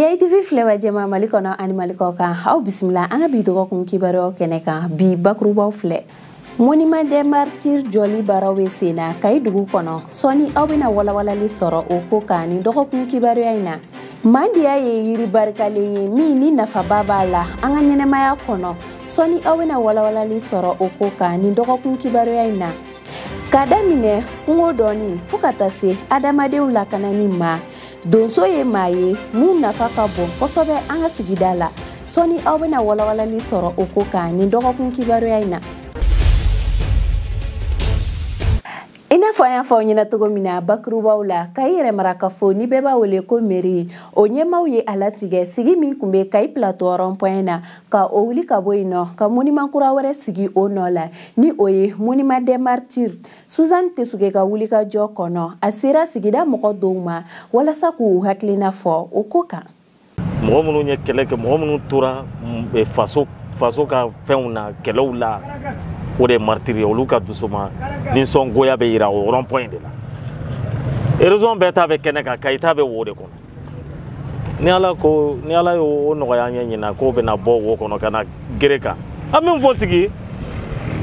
AITV filɛbaa jɛma Mali kɔnɔ ani Mali kɔ kan aw bisimila an ka bi dɔgɔkun kibaruyaw kɛnɛ kan bi bakurubaw filɛ Monument des martyrs jɔli baaraw bɛ sen na Kayi dugu kɔnɔ sɔɔni aw bɛna walawalali sɔrɔ o ko kan nin dɔgɔkun kibaruya in na Mandiya ye yiri barikalen ye min ni nafaba b'a la an ka ɲɛnɛmaya kɔnɔ sɔɔni aw bɛna walawalali sɔrɔ o ko kan nin dɔgɔkun kibaruya in na ka daminɛ kungo dɔnni fo ka taa se adamadenw lakanani ma donso ye maa ye mun nafa ka bon kosɛbɛ an ka sigida la sɔni aw bɛna walawalali sɔrɔ o ko kan nin dɔgɔkun kibaruya in na i n'a fɔ an y'a fɔ aw ɲɛna cogo min na bakurubaw la kayi yɛrɛ marakafo ni bɛɛ b'a wele ko meri o ɲɛmaaw ye a latigɛ sigi min tun bɛ kayi plateau rond point na ka o wuli ka bɔ yen nɔ ka monument kura wɛrɛ sigi o nɔ la ni o ye Monument des martyrs Suzanne Tesuge ka wulikajɔ kɔnɔ a sera sigida mɔgɔ dɔw ma walasa k'u hakilina fɔ o ko kan mɔgɔ minnu ye kɛlɛ kɛ mɔgɔ minnu tora mm, eh, faso faso ka fɛnw na kɛlɛw la o de ye maritiri ye olu ka dusuma nisɔngoya bɛ yira o rond point de la erezɔn bɛɛ ta bɛ kɛnɛ kan kayi ta bɛ wo de kɔnɔ ni ala ko ni ala y'o nɔgɔya ne ɲɛna k'o bɛna bɔ wo kɔnɔ ka na gere kan an b'a fɔ sigi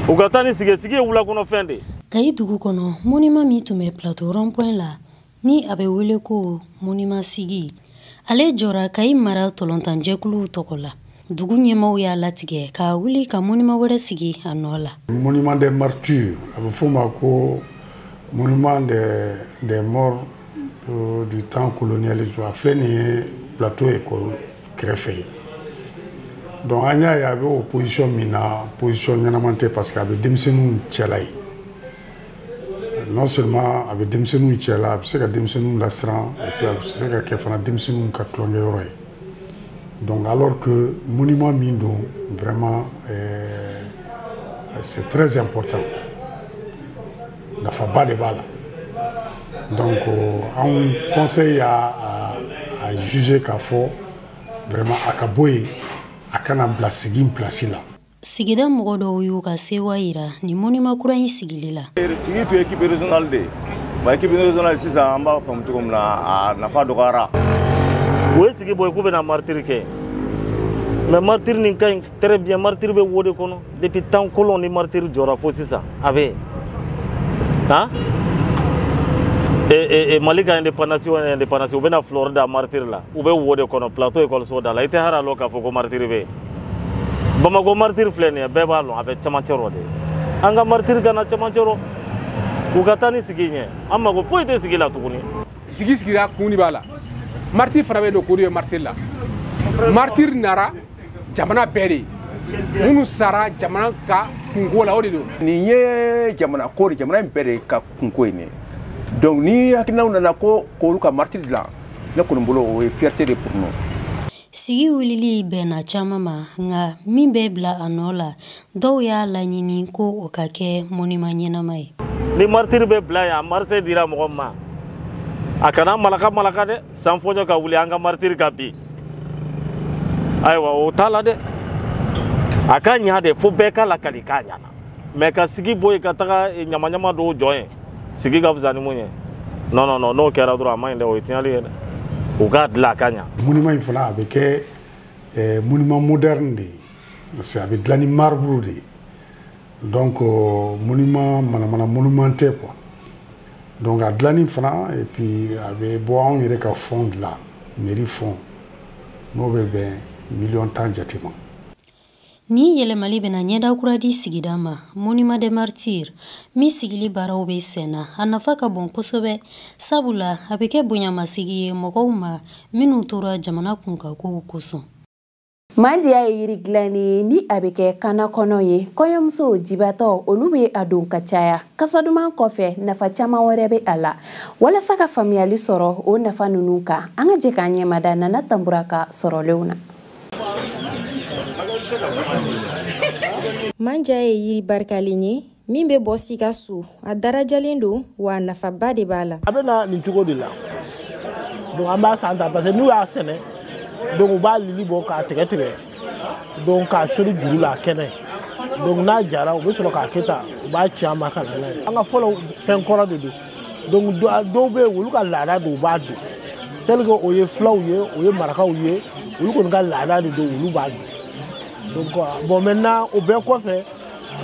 u ka taa ni sigi sigi ye wulakɔnɔfɛn de kayi dugu kɔnɔ monument min tun bɛ plateau rond point la ni a bɛ wele ko monument sigi ale jɔra kayi mara ntolatanjɛkuluw tɔgɔ la dugu ɲɛmaaw y'a latigɛ k'a wuli ka monument wɛrɛ sigi a nɔ la monument des martyrs a bɛ f'o ma ko monument des des morts euh, du temps colonialisme a filɛ nin ye plateau école kɛrɛfɛ ye donc an y'a ye a bɛ o position min na position ɲɛnama tɛ parce que a bɛ denmisɛnninw cɛla ye non seulement a bɛ denmisɛnninw cɛla a bɛ se ka denmisɛnninw lasiran et puis a bɛ se ka kɛ fana denmisɛnninw ka tulonkɛyɔrɔ ye Donc alors que monument min don vraiment euh, c'est très important nafaba de b'a la donc euh, anw conseil y'a a, a juger k'a fɔ vraiment a ka bɔ yen a kana bila sigi place la sigida mɔgɔ dɔw y'u ka sewa yira nin monument kura in sigili la sigi tun ye équipe régionale de wa équipe régionale sisan an b'a faamu cogo min na a nafa dɔgɔyara u ye sigi bɔ k'u bɛna martiri kɛ mais martiri nin ka ɲi très bien martiri bɛ wo de kɔnɔ depuis temps colon ni martiri jɔra fo sisan a bɛ han e, e, mali ka indépendance o indépendance u bɛna fleur da martiri la u bɛ wo de kɔnɔ plateau ekɔliso da la i tɛ hali a lɔn k'a fɔ ko martiri bɛ yen bamakɔ maritiri filɛ nin ye bɛɛ b'a lɔn a bɛ camancɛ rɔ de an ka maritiri ka na camancɛ rɔ u ka taa ni sigi ɲɛ an mago foyi tɛ sigi la tuguni sigi sigira kun de b'a la maritiri fana bɛ don kun de bɛ maritiri la maritiri nara jamana bɛɛ de minnu sara jamana ka kunko la o de don nin ye jamana ko de jamana in bɛɛ de ka kunko ye nin donc ni hakilinaw nana ko k'olu ka maritiri dilan ne kɔni bolo o ye fierté de pour nous Sigi wulili bɛnna caman ma nka min bɛ bila a nɔ la dɔw y'a laɲini ko o ka kɛ monument ɲɛnama ye ni maritiri bɛ bila yan marché dira mɔgɔ ma a kana malaka malaka dɛ sanfɔɲɔ ka wuli an ka maritiri ka bin ayiwa o t'a la dɛ a ka ɲa dɛ fo bɛɛ ka lakali k'a ɲana mais ka sigi bɔ yen ka taga eh, ɲamaɲama dɔw jɔ yen sigi ka fisa ni mun ye non non non n'o kɛra dɔrɔn a man ɲi dɛ o ye tiɲɛli ye dɛ u k'a dilan a ka ɲa monument in fana a bɛ kɛ eh, monument moderne de ye parce que a bɛ dilan ni marbre de ye donc euh, monument manamana monument tɛ quoi donc a dilanni fana et puis a bɛ bɔ anw yɛrɛ ka fonds de la mairie fonds n'o bɛ bɛn miliyɔn tan jate ma Ni yɛlɛmali bɛna ɲɛda kura di sigida ma Monument des Martyrs min sigili baaraw bɛ senna a nafa ka bon kosɛbɛ sabula a bɛ kɛ bonyamasigi ye mɔgɔw ma minnu tora jamana kunkankow kosɔn Mandiya ye yiri dilannen ye ni a bɛ kɛ kannakɔnɔ ye kɔɲɔmuso jibatɔ olu bɛ a don ka caya kasa duman kɔfɛ nafa caman wɛrɛ bɛ a la walasa ka faamuyali sɔrɔ o nafa ninnu kan an ka jɛ k'an ɲɛmada Nana Tanbura ka sɔrɔlenw na manja ye yiri barikalen ye min bɛ bɔ Sikaso a darajalen don wa nafaba de b'a la a bɛ na nin cogo de la donc an b'a san ta parce que n'u y'a sɛnɛ donc u b'a lili bɔ k'a tigɛ tigɛ donc k'a sori juru la a kɛnɛ donc n'a jara u bɛ sɔrɔ k'a kɛ tan u b'a ci an ma ka na n'a ye an ka fɔlɔ fɛn kɔrɔ de don donc dɔw bɛ yen olu ka laada don u b'a don tel que o ye fulaw ye o ye marakaw ye olu kɔni ka laada de don olu b'a don donc euh, bon maintenant o bɛɛ kɔfɛ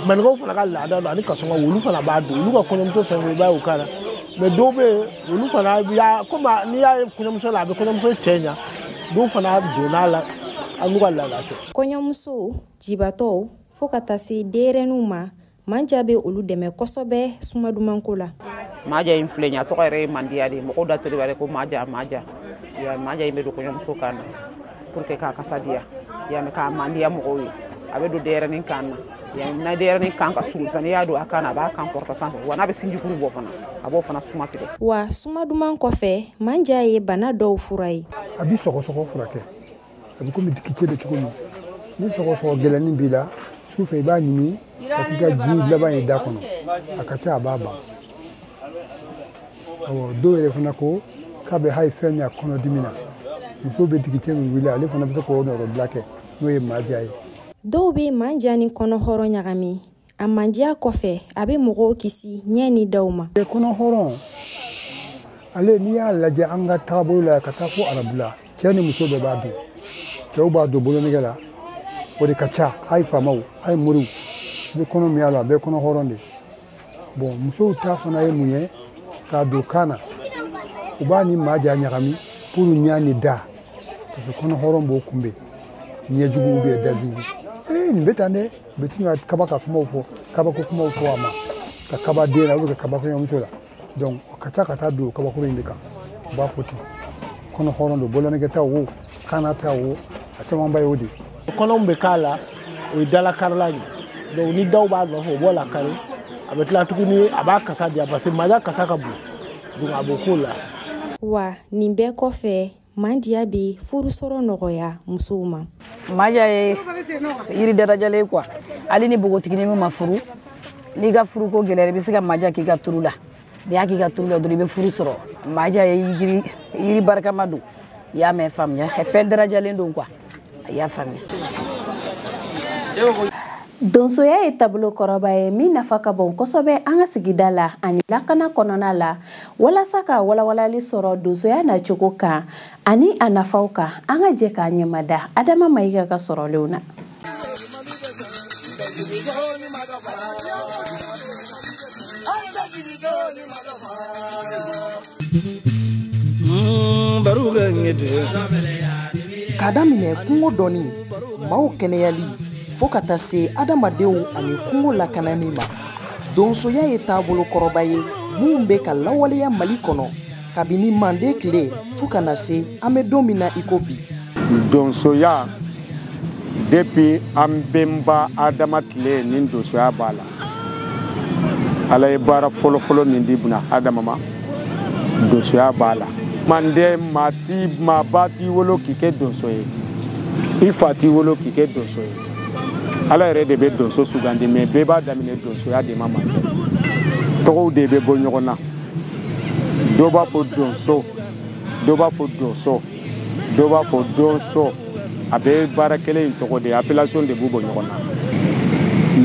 maninkaw fana ka laada don ani kasɔnkaw olu fana b'a don olu ka kɔɲɔmuso fɛn fɛn i b'a ye o kan na mais dɔw bɛ yen olu fana y'a komi n'i y'a ye kɔɲɔmuso la a bɛ kɔɲɔmuso cɛɲa dɔw fana donn'a la hali n'u ka laada tɛ kɔɲɔmuso jibatɔw fo ka taa se denyɛrɛninw ma manja bɛ olu dɛmɛ kosɛbɛ suma dumanko la maja in filɛ nin ye a tɔgɔ yɛrɛ ye mandiya de ye mɔgɔw da tori ko maja maja ya maja in bɛ don kɔɲɔmuso kan na pour que k'a kasa diya ya mɛ k'a mandiya mɔgɔw ye a bɛ don denyɛrɛnin kan na ya na denyɛrɛnin kan ka surun sisan n'i y'a don a kan na a b'a kan kɔrɔta sanfɛ wa n'a bɛ sinjikuru bɔ fana a b'o fana suma tigɛ wa suma duman kɔfɛ manja ye bana dɔw fura ye a bi sɔgɔsɔgɔ furakɛ a bɛ komi digicɛ bɛ cogo min ni sɔgɔsɔgɔ gɛlɛnnin b'i la su fɛ i b'a ɲimi ka k'i ka ji laban ye da kɔnɔ a ka ca a b'a ban awɔ dɔw yɛrɛ fana ko k'a bɛ hali fɛn min a kɔnɔdimi na muso bɛ digicɛ min wuli ale fana bɛ se k'o nɔrɔbila kɛ n'o ye maja ye dɔw bɛ manja ni kɔnɔhɔrɔn ɲagami a mandiya kɔfɛ a bɛ mɔgɔw kisi ɲɛ ni daw ma kɔnɔhɔrɔn ale n'i y'a lajɛ an ka taabolo la ka taa fo arabu la cɛ ni muso bɛɛ b'a don cɛw b'a don bolonɛgɛ la o de ka ca a ye faamaw a ye moriw bɛ kɔnɔ min y'a la bɛɛ kɔnɔhɔrɔn de don musow ta fana ye mun ye k'a don kan na u b'a ni maja ɲagami pour ɲa ni da parce que kɔnɔhɔrɔn b'o kunbɛn ɲɛjuguw bɛ dajugu ee nin bɛ tan dɛ u bɛ sin ka kaba ka kumaw fɔ kabako kumaw fɔ a ma ka kaba den na ou bien ka kaba kɔɲɔmuso la donc o ka ca ka taa don kabakuru in de kan u b'a fɔ ten kɔnɔhɔrɔn don bolonɛgɛ ta o kanna ta o a camanba y'o de ye kɔnɔw bɛ k'a la o ye dalakarila de donc ni daw b'a nɔfɛ o b'o lakari a bɛ tila tuguni a b'a kasa diya parce que maja kasa ka bon donc a b'o k'o la wa nin bɛɛ kɔfɛ mandiya bɛ furu sɔrɔ nɔgɔya musow ma maja ye yiri darajalen quoi hali ni bogotiginin min ma furu n'i ka furuko gɛlɛyara i bɛ se ka maja k'i ka turu la n'i y'a k'i ka turu la dɔrɔn i bɛ furu sɔrɔ maja ye yiri barikama don i y'a mɛn faamuya fɛn darajalen don quoi a y'a faamuya donsoya ye taabolo kɔrɔba ye min nafa ka bon kosɛbɛ an ka sigida la ani lakana kɔnɔna la walasa ka walawalali sɔrɔ donsoya nacogo kan ani a nafaw kan an ka jɛ k'an ɲɛmada adama mayiga ka sɔrɔlenw na k'a daminɛ kungo dɔnni maaw kɛnɛyali fo ka taa se adamadenw ani kungo lakanani ma donsoya ye taabolo kɔrɔba ye min bɛ ka lawaleya mali kɔnɔ kabini mande tile fo ka na se an bɛ don min na i ko bi donsoya depuis an bɛnba adama tile ni donsoya b'a la ala ye baara fɔlɔfɔlɔ min di buna hadama ma donsoya b'a la mande maa ti maa ba t'i wolo k'i kɛ donso ye i fa t'i wolo k'i kɛ donso ye ala yɛrɛ de bɛ donso sugandi mais bɛɛ b'a daminɛ donsoya de ma mande tɔgɔw de bɛ bɔ ɲɔgɔn na dɔ b'a fɔ donso dɔ b'a fɔ donso dɔw b'a fɔ donso a bɛɛ baara kelen ye tɔgɔ de appellation de b'u bɔ ɲɔgɔn na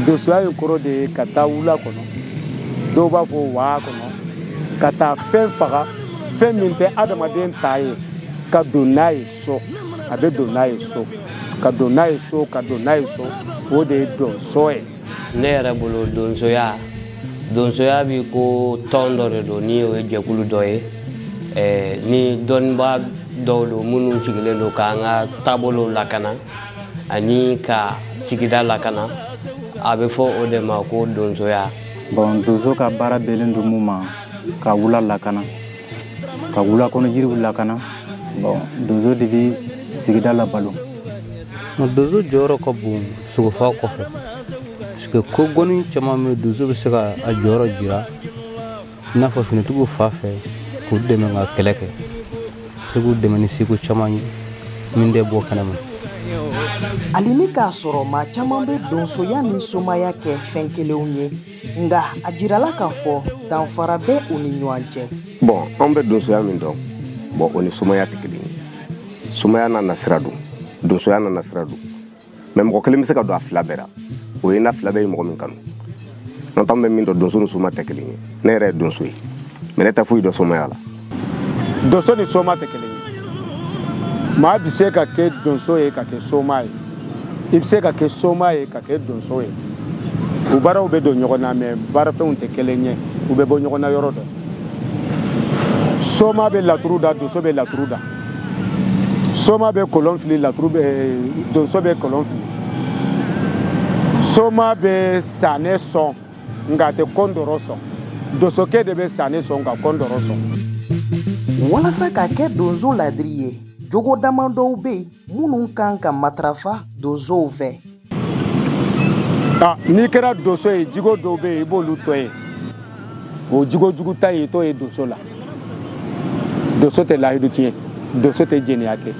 donsoya in kɔrɔ de ye ka taa wula kɔnɔ dɔw b'a fɔ waa kɔnɔ ka taa fɛn faga fɛn min tɛ adamaden ta ye ka don n'a ye so a bɛ don n'a ye so ka don n'a ye so ka don n'a ye so o de ye donso ye ne yɛrɛ bolo donsoya donsoya b'i ko tɔn dɔ de don ni o ye jɛkulu dɔ ye eh, ni dɔnnibaa dɔw don minnu sigilen don k'an ka taabolow lakana ani ka sigida lakana a bɛ fɔ o de ma ko donsoya bon donso ka baara bɛnnen don mun ma ka wula lakana ka wula kɔnɔ yiriw lakana bon donso de bɛ sigida labalo donso jɔyɔrɔ ka bon sogofaga kɔfɛ parce que ko gɔni caman bɛ donso bɛ se ka a jɔyɔrɔ jira i n'a fɔ finitigiw fan fɛ k'u dɛmɛ ka kɛlɛ kɛ se k'u dɛmɛ ni seko caman ye min tɛ bɔ kɛnɛ ma hali ni k'a sɔrɔ maa caman bɛ donsoya ni somaya kɛ fɛn kelenw ye nka a jirala k'a fɔ danfara bɛ u ni ɲɔgɔn cɛ bon an bɛ donsoya min dɔn bon o ni somaya tɛ kelen ye somaya n'a nasira don donsoya n'a nasira don mais mɔgɔ kelen bɛ se ka don a fila bɛɛ la o ye n'a fila bɛɛ ye mɔgɔ min kanu n'o tɛ an bɛ min dɔn donso ni soma tɛ kelen ye ne yɛrɛ ye donso ye mais ne tɛ foyi dɔn somaya la donso ni soma tɛ kelen ye maa bɛ se ka kɛ donso ye ka kɛ soma ye i bɛ se ka kɛ soma ye ka kɛ donso ye u baaraw bɛ don ɲɔgɔn na mais baarafɛnw tɛ kelen ye u bɛ bɔ ɲɔgɔn na yɔrɔ dɔ soma bɛ laturu da donso bɛ laturu da soma bɛ kolon fili laturu bɛ donso bɛ kolon fili soma bɛ sanɛ sɔn nka a tɛ kɔndɔrɔ sɔn donsokɛ de bɛ sanɛ sɔn ka kɔndɔrɔ sɔn walasa ka kɛ donso ladiri ye jogo damadɔw bɛ yen minnu ka kan ka matarafa donsow fɛ ah, n'i kɛra donso ye jogo dɔw bɛ yen i b'olu to yen o jogo jugu ta ye to yen donso la donso tɛ layidu tiɲɛ donso tɛ jɛnɛya kɛ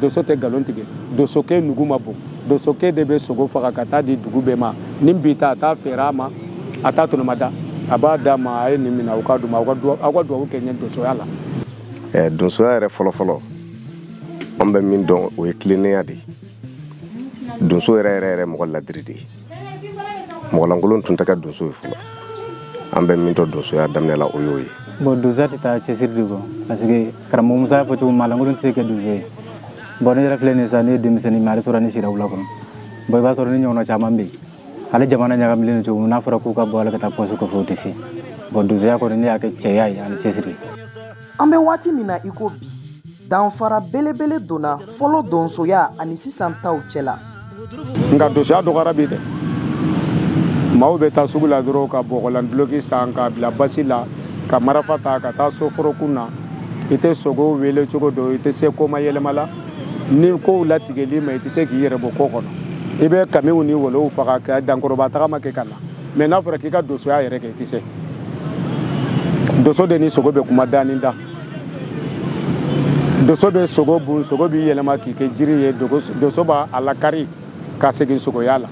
donso tɛ nkalon tigɛ donsokɛ nugu ma bon donsokɛ de bɛ sogo faga ka taa di dugu bɛɛ ma ni bi ta a t'a feere a ma a t'a tɔnɔmada a b'a d'a ma a ye nin minɛ aw k'a dumu aw ka dugawu kɛ n ye donsoya la. donsoya yɛrɛ fɔlɔfɔlɔ an bɛ min dɔn o ye tilennenya de ye donso yɛrɛ yɛrɛ yɛrɛ mɔgɔ ladiri de ye mɔgɔlankolon tun tɛ kɛ donso ye fɔlɔ an bɛ min dɔn donsoya daminɛ la o y'o ye bon donsoya tɛ taa cɛsiri de kɔ parce que karamɔgɔ musa y'a fɔ cogo min maalankolon tɛ se ka kɛ donso ye bon ne yɛrɛ filɛ nin sa ne ye denmisɛnnin mais hali surɔ ne sira wula kɔnɔ bon i b'a sɔrɔ ne ɲɔgɔnna caman bɛ yen hali jamana ɲagamilen don cogo min n'a fɔra k'u ka bɔ hali ka taa pɔsi kɔfɛ u tɛ se bon donsoya kɔni ne y'a kɛ cɛya ye ani cɛsiri an bɛ waati min na i ko bi danfara belebele donna fɔlɔ donsoya ani sisan taw cɛla nka donsoya dɔgɔyara bi dɛ maaw bɛ taa sugu la dɔrɔn ka bɔgɔlanduloki san k'a bila basi la ka marafa ta ka taa so forokun na i tɛ sogo wele cogo dɔn i tɛ se koma yɛlɛma la ni kow latigɛli ma i tɛ se k'i yɛrɛ bɔ ko kɔnɔ i bɛ kamiw ni wolow faga ka dankɔrɔba tagama kɛ ka na mais n'a fɔra k'i ka dosoya yɛrɛ kɛ i tɛ se doso de ni sogo bɛ kuma da ni da doso bɛ sogo bon sogo b'i yɛlɛma k'i kɛ jiri ye doso b'a lakari ka segin sogoya la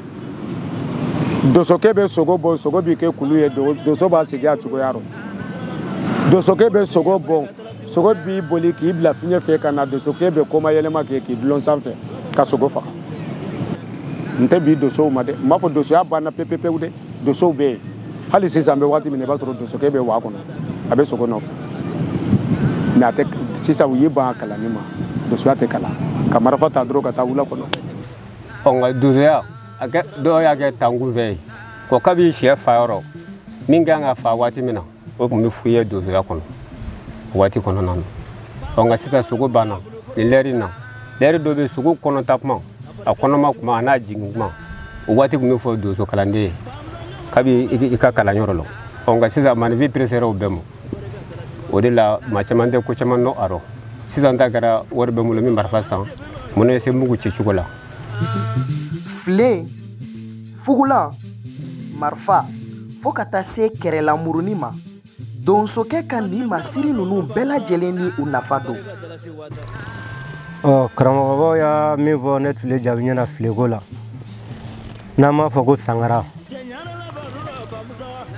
dosokɛ bɛ sogo bon sogo b'i kɛ kulu ye doso b'a segin a cogoya rɔ dosokɛ bɛ sogo bon sogo b'i boli k'i bila fiɲɛ fɛ ka na dosokɛ bɛ koma yɛlɛma kɛ k'i dulon sanfɛ ka sogo faga n tɛ bi dosow ma dɛ n m'a fɔ dosoya banna pepepewu dɛ dosow bɛ yen hali sisan an bɛ waati min na i b'a sɔrɔ dosokɛ bɛ waa kɔnɔ a bɛ sogo nɔfɛ mais a tɛ sisan u y'i ban a kalanni ma dosoya tɛ kalan ka marifa ta dɔrɔn ka taa wula kɔnɔ ɔ nka dosoya a kɛ dɔw y'a kɛ tankun fɛ yen ko kabi sɛ fa yɔrɔ min kan ka fa waati min na o tun bɛ f'u ye donsoya kɔnɔ o waati kɔnɔna na ɔ nka sisan sogo banna nin lɛri na lɛri dɔ bɛ sogo kɔnɔta kuma a kɔnɔma kuma a n'a jigin kuma o waati tun bɛ fɔ donso kalanden ye kabi i ka kalanyɔrɔ la ɔ nka sisan maaninfin peresera o bɛɛ ma o de la maa caman tɛ ko caman dɔn a rɔ sisan ta kɛra wari bɛ n bolo n bɛ marifa san mun ne se mugu ci cogo la filen fugulan marifa fo ka taa se kɛrɛlamuruni ma donsokɛ ka nin masiri ninnu bɛɛ lajɛlen ni u nafa don ɔ karamɔgɔbaw y'a min fɔ ne tun le jaabi ɲɛna fileko la n'an b'a fɔ ko sangara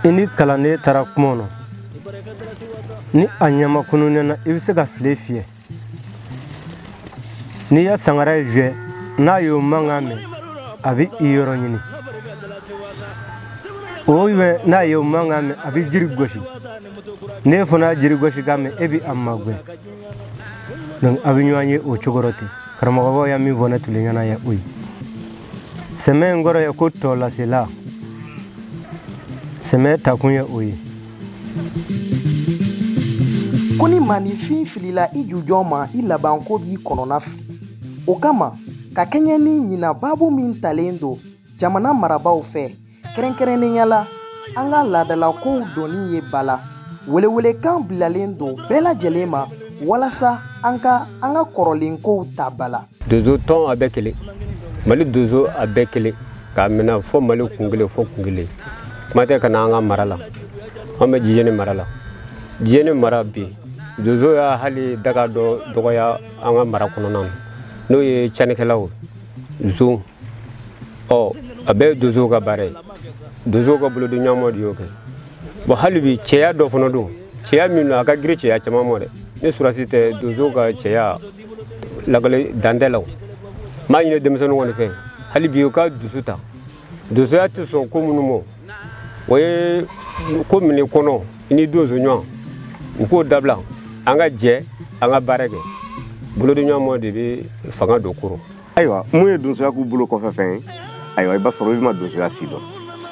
i ni kalanden taara kungo kɔnɔ ni a ɲɛmakununnɛna i bɛ se ka file fiyɛ n'i ye sangara ye zuwɛ n'a y'o mankan mɛn a bɛ i yɔrɔ ɲini o bɛ n'a y'o mankan mɛn a bɛ jiri gosi n'e fana jiri gosi k'a mɛn e bɛ a magɛn donc a bɛ ɲɔgɔn ye o cogo rɔ ten karamɔgɔbaw y'a min fɔ ne tun le ɲɛna ye o ye sɛmɛ in kɔrɔ ye ko tɔlasela sɛmɛ takun ye o ye ko ni maaninfin filila i jujɔn ma i labanko b'i kɔnɔna fili o kama ka kɛɲɛ ni ɲinan baabu min talen don jamana marabaw fɛ kɛrɛnkɛrɛnnenya la an ka laadalakow donni ye ba la welewelekan bilalen don bɛɛ lajɛlen ma walasa an ka an ka kɔrɔlenkow ta ba la dozo tɔn a bɛɛ kelen mali dozo a bɛɛ kelen k'a minɛ fo mali kun kelen fo kun kelen kuma tɛ ka na an ka mara la an bɛ jijeni mara la jijeni mara bi dozo y'a hali daga dɔ dɔgɔya an ka mara kɔnɔna na n'o ye cɛnnikɛlaw zon ɔ a bɛɛ ye dozow ka baara ye dozow ka bolodiɲɔgɔnma de y'o kɛ bɔn hali bi cɛya dɔ fana don cɛya min don a ka girin cɛya caman ma dɛ ni sɔrɔdasi tɛ dozow ka cɛya lakali dan tɛ la o n b'a ɲini denmisɛnninw kɔni fɛ hali bi u ka dusu ta donsoya tɛ sɔn ko minnu ma o ye komini kɔnɔ i ni donso ɲɔgɔn u k'o dabila an ka jɛ an ka baara kɛ bolodiɲɔgɔnma de bɛ fanga don ko rɔ ayiwa minnu ye donsoya k'u bolokɔfɛfɛn ye ayiwa i b'a sɔrɔ i ma donsoya si dɔn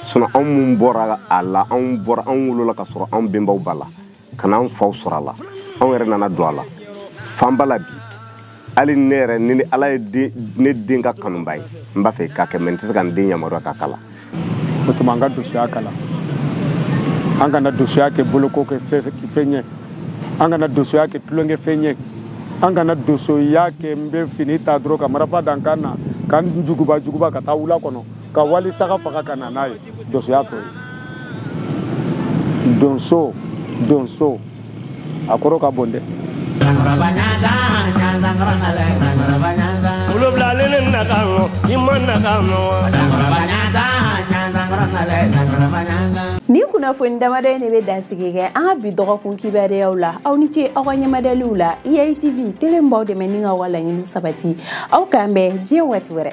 sinɔn anw minnu bɔra a la anw bɔra anw wolola k'a sɔrɔ anw benbaw b'a la ka na an faw sɔrɔ a la anw yɛrɛ nana don a la f'an b'a la bi hali ne yɛrɛ ni ni ala ye ne den k'a kanubaa ye n b'a fɛ k'a kɛ mɛ n tɛ se ka n den yamaruya k'a kalan o tuma an ka dosoya kalan an kana dosoya kɛ bolokɔfɛfɛn ye an kana dosoya kɛ tulonkɛfɛn ye an kana dosoya kɛ n bɛ fini ta dɔrɔn ka marafa da n kan na ka n juguba juguba ka taa wula kɔnɔ ka wali saga faga ka na n'a ye donsoya t'o ye donso donso a kɔrɔ ka bon dɛ wolonwula ale ne na ka ŋɔ i ma na ka ŋɔ nin kunnafoni damadɔ in de bɛ dansigi kɛ an ka bi dɔgɔkun kibaruyaw la aw ni ce aw ka ɲɛmadaliw la iatv tele n b'aw dɛmɛ ni k'aw laɲini sabati aw k'an bɛn diɲɛ waati wɛrɛ